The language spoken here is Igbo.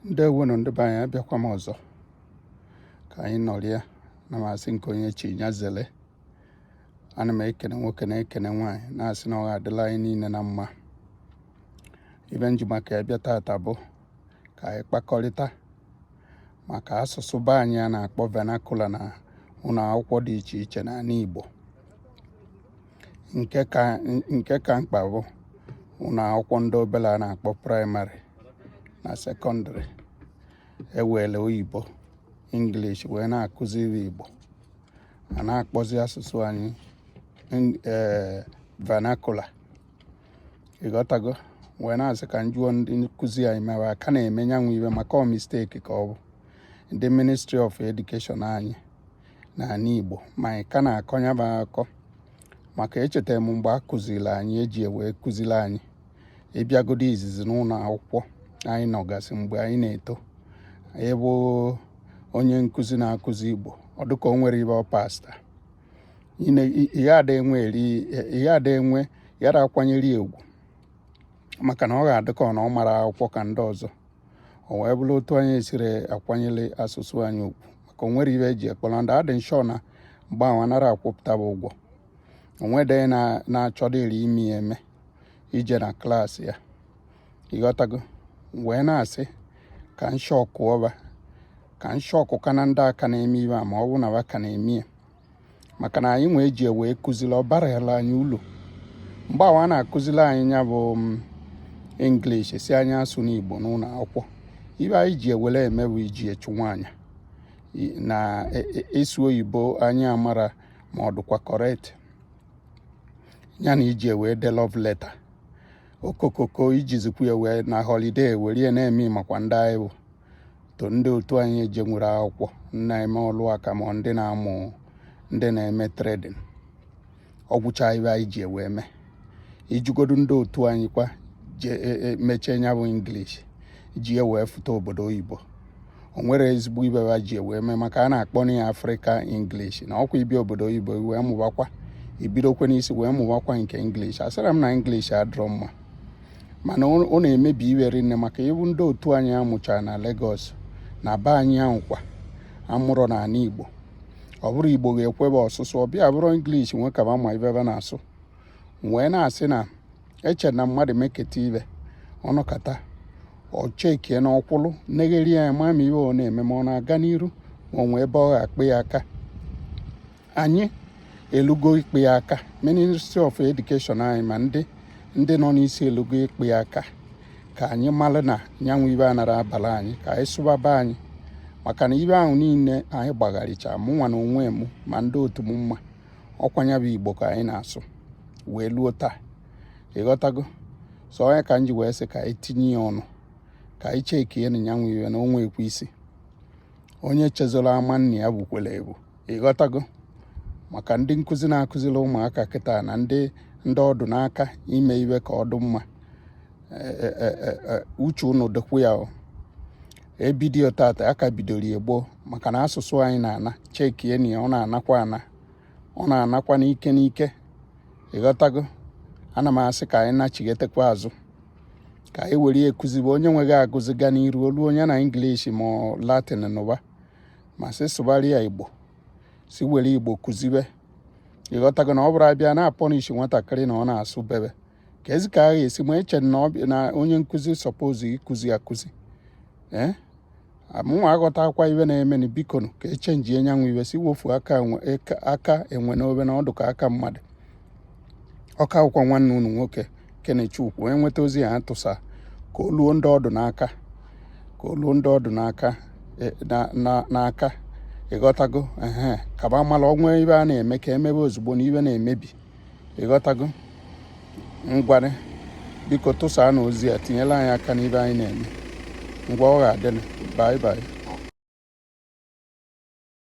ndewonu ndị be anyị abịakwa m ọzọ ka anyị nọrịa na m sị nke onye chi ya zele ana m ekene nwoke na-ekene nwaanyị na-asị na ọ ga-adịrị anyị niile na mma ive m ji maka ya bịa taata bụ ka anyị kpakọrịta maka asụsụ be anyị a na-akpọ vernacular na ụlọ akwụkwọ dị iche iche n'ala Igbo nke ka nke ka mkpa bụ ụlọ akwụkwọ ndị obere a na-akpọ primary na secondary e were oyibo English wee na-akụziri Igbo a na-akpọzi asụsụ anyị ee vernacular ị ghọtago wee na-asị ka m jụọ ndị nkụzi anyị ma va ka na-eme nya bụ ive maka ọ mistake ka ọ bụ ndị ministry of education anyị n'ala Igbo ma anyị ka na-akọ ya bụ akọ maka echeta m mgbe a kụziri anyị e ji ewee kụziri anyị ị bịagodu izizi n'ụlọ akwụkwọ anyị nọgasị mgbe anyị na-eto ebe onye nkụzi na-akụzi Igbo ọ dịka o nwere ive pasta ihe ada enwe ya da akwanyere ugwu maka na ọ ga-adị ka ọ na ọ marọ akwụkwọ ka ndị ọzọ o wee bụrụ otu anyị esiri akwanyere asụsụ anyị ugwu maka o nwere ive e ji akpọrọ ndị adị nshọ na mgbe ahụ a narọ akwụpụta bụ ụgwọ onwede na-achọdị eri imi ya eme ije na class ya ị ghọtago wee na-asị ka nshọkụ ọba ka nshọkụ ka na ndị a ka na-eme ive a ma ọ bụ na va ka na-eme ya maka na anyịnwa e ji wee kụziri ọ barala anyị uru mgbe va na-akụziri anyị ya bụ mm, English sị anyị asụna Igbo n'ụlọ akwụkwọ ive anyị ji ewere eme bụ iji achụ nwaanyị na ịsụ e, e, oyibo anyị amarọ ma ọ dịkwa correct ya na iji ewee dee love letter okokoko iji zikwu ya wee na holiday were ya na-eme makwa ndị anyị bụ to ndị otu anyị ejenwurọ akwụkwọ na-eme ọlụ aka ma ndị na-amụ ndị na-eme trading ọ gwụcha ive anyị ji ewe eme ị jụgodu ndị otu anyị kwa e, e, mụchaa nya bụ English ji ewee fụta obodo oyibo o nwerọ ezigbo ive ha ji ewee mee maka a na-akpọ na ya Africa English na ọkwa ị bịa obodo oyibo wee mụbakwa i bidokwa n'isi wee mụbakwa nke English asịrọ m na English adịrọ mma mana ọ na-emebi ive rinne maka ị hụ ndị otu anyị amụchara na Lagos na be anyị ahụ kwa amụrụ n'ala Igbo ọ bụrọ Igbo ga-ekwe va asụsụ ọ bịa bụrụ English nwe ka ma ive va na-asụ wee na-asị na eche na mmadụ meketa ive ọ nọkata o chekene ọ kwụlụ negharịa anya ma ma ive ọ na-eme ma ọ na-aga n'iru ma ọ nwee ebe ọ ga-akpụ ya aka anyị elugo ikpe aka ministry of education anyị ma ndị ndị nọ n'isi elugo ikpe aka ka anyị mara na nyanwụ ibe anara abala anyị ka anyị sụbaba anyị maka na ibe ahụ niile anyị gbagharicha mụ nwa na onwe m ma ndị otu m mma ọ kwa nya bụ igbo ka anyị na-asụ wee luo taa ị ghọtago so ọ nya ka m ji wee sị ka anyị tinye ya ọnụ ka anyị chekie na nyanwụ iwe na o nwekwe isi onye chezoro ama nna ya bukwere ebu ị ghọtago maka ndị nkụzi na-akụziri ụmụaka kịta na ndị ndị ọ dụ n'aka ime iwe ka ọ dụ mma e, e, e, uche unu dịkwu ya e bido tata a ka bidoro ya gboo maka na asụsụ anyị na-ana chekie na ọ na-anakwa ana ọ na-anakwa n'ike n'ike ị ghọtago ana m asị ka anyị nachighetekwa azụ ka anyị were ya kụzibe onye nwe ga-agụzi ga n'iru o luo nye na English ma Latin n'ụba ma sị sụgharịa Igbo sị were Igbo kụzibe ị ghọtago na ọ bụrụ a bịa na-apunish nwatakịrị na ọ na-asụ bekee kezi ka a ga-esi ma eche na onye nkụzi suppose ịkụzi akụzi ee eh? mụnwa aghọtakwa iwe na-emeni bikonu ka e chenjie nyanwụ iwe si wofu aka enwe n'obe na ọ dụ ka aka mmadụ ọ ka wụkwa nwanne unu nwoke kenechukwu e nweta ozi a a tụsa ka o luo ndị ọ dụ n'aka ka o luo ndị ọ dụ n'aka e, n'aka ị ghọtago ee ka ba mala o nwe ibe a na-eme ka e mebe ozugbo na iwe na-emebi ị ghọtago ngwarị biko tụsaanụ ozi a tinyela anyị aka n'ibe anyị na-eme ngwa ọ ga-adịnụ bye bye